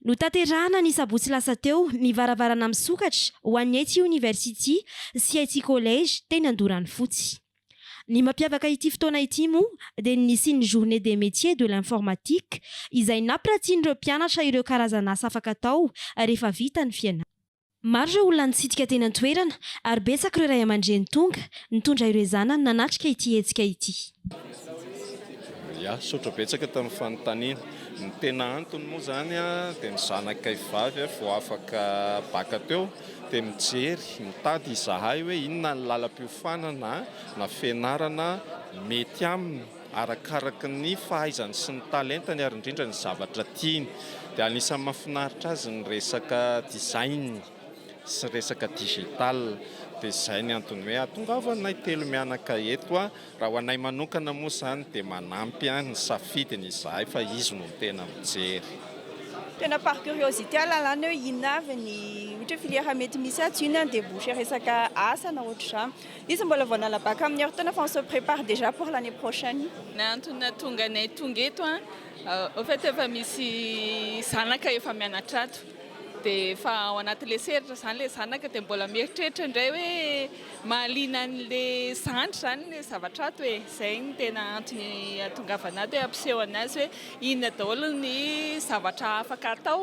Notanterahana ny sabotsy lasa teo ny varavarana misokatra ho an'ny Aichi University sy Aichi College teny Andoranofotsy. Ny mampiavaka ity fotoana ity moa dia ny nisian'ny Journée des Métiers de l'Informatique izay nampiratian'ireo mpianatra ireo karazan'asa afaka atao rehefa vita ny fianarana. Maro ireo olona nitsidika teny an-toerana ary betsaka ireo ray aman-dreny tonga nitondra ireo zanany nanatrika ity hetsika ity. Misaotra betsaka tamin'ny fanontaniana. Ny tena antony moa izany dia ny zanakay vavy vao afaka baka teo dia mijery, mitady izahay hoe inona ny lalam-piofanana na fianarana mety aminy. Arakaraka ny fahaizany sy ny talentany ary indrindra ny zavatra tiany. Dia anisan'ny mahafinaritra azy ny resaka design sy resaka digital. Dia izay ny antony hoe ahatongavanay telo mianaka eto. Raha ho anay manokana moa izany dia manampy ny safidiny izahay fa izy no tena mijery. Tena par curiosité lalàna hoe inona avy ny ohatra hoe filière mety misy atsy, inona ny débouché resaka asa na ohatr'izany. Izy mbola vao nala bac amin'ny herintaona fa on se prépare déjà pour l'année prochaine. Ny antony nahatonga anay tonga eto an, au fait efa misy zanaka efa mianatra ato dia efa ao anaty lesy heritrra izany ilay zanaka dia mbola mieritreritra indray hoe mahaliana an'ilay zandry izany ilay zavatra ato e, izay no tena antony hahatongavana ato hoe hampiseho an'azy hoe inona daholo ny zavatra afaka atao.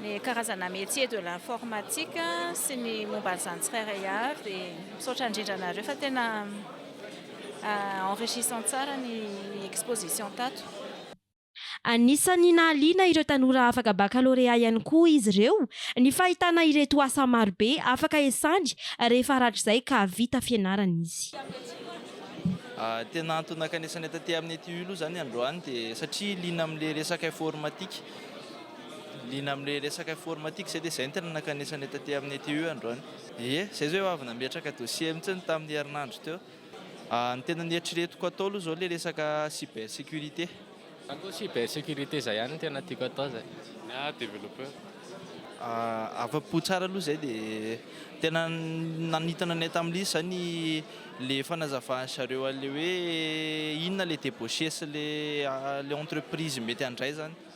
ny karazana métier de l'informatique sy ny momba an'izany tsirairay avy dia misaotra indrindra anareo fa tena enrichissant tsara ny exposition tato. Anisan'ny nahaliana ireo tanora afaka bakalorea ihany koa izy ireo ny fahitana ireto asa marobe afaka esany rehefa haratrizay ka vita fianarana izy. Tena antony nakanesanay taty amin'ity io aloha izany androany dia satria liana amin'ilay resaka informatique. Liana amin'ilay resaka informatique izay dia izay no tena nankanesana eto aty amin'ny ITU androany. Ie, izay izao eo avy nametraka dossier mihitsy ny tamin'ny herinandro teo. Ny tena nieritreretiko atao aloha izao ilay resaka cyber sécurité. Za koa cyber sécurité izay ihany no tena tiako atao izay. Ny ahy développeur. Afa-po tsara aloha izay dia tena nanintona ny ahy tamin'ilay izy izany ilay fanazavan'ny zareo an'ilay hoe inona ilay débauché sy ilay ilay entreprise mety handray izany.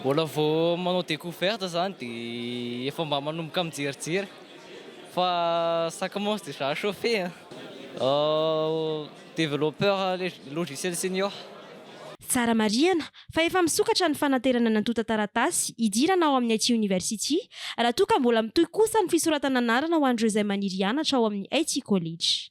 Mbola vao manao découverte zany de efa mba manomboka mijerijery fa ça commence déjà à chauffer an! Développeur logiciel senior. Tsara marihana fa efa misokatra ny fanaterana ny antontan-taratasy hidirana ao amin'ny IT University raha toa ka mbola mitohy kosa ny fisoratana anarana ho an'ireo izay maniry hianatra ao amin'ny IT College.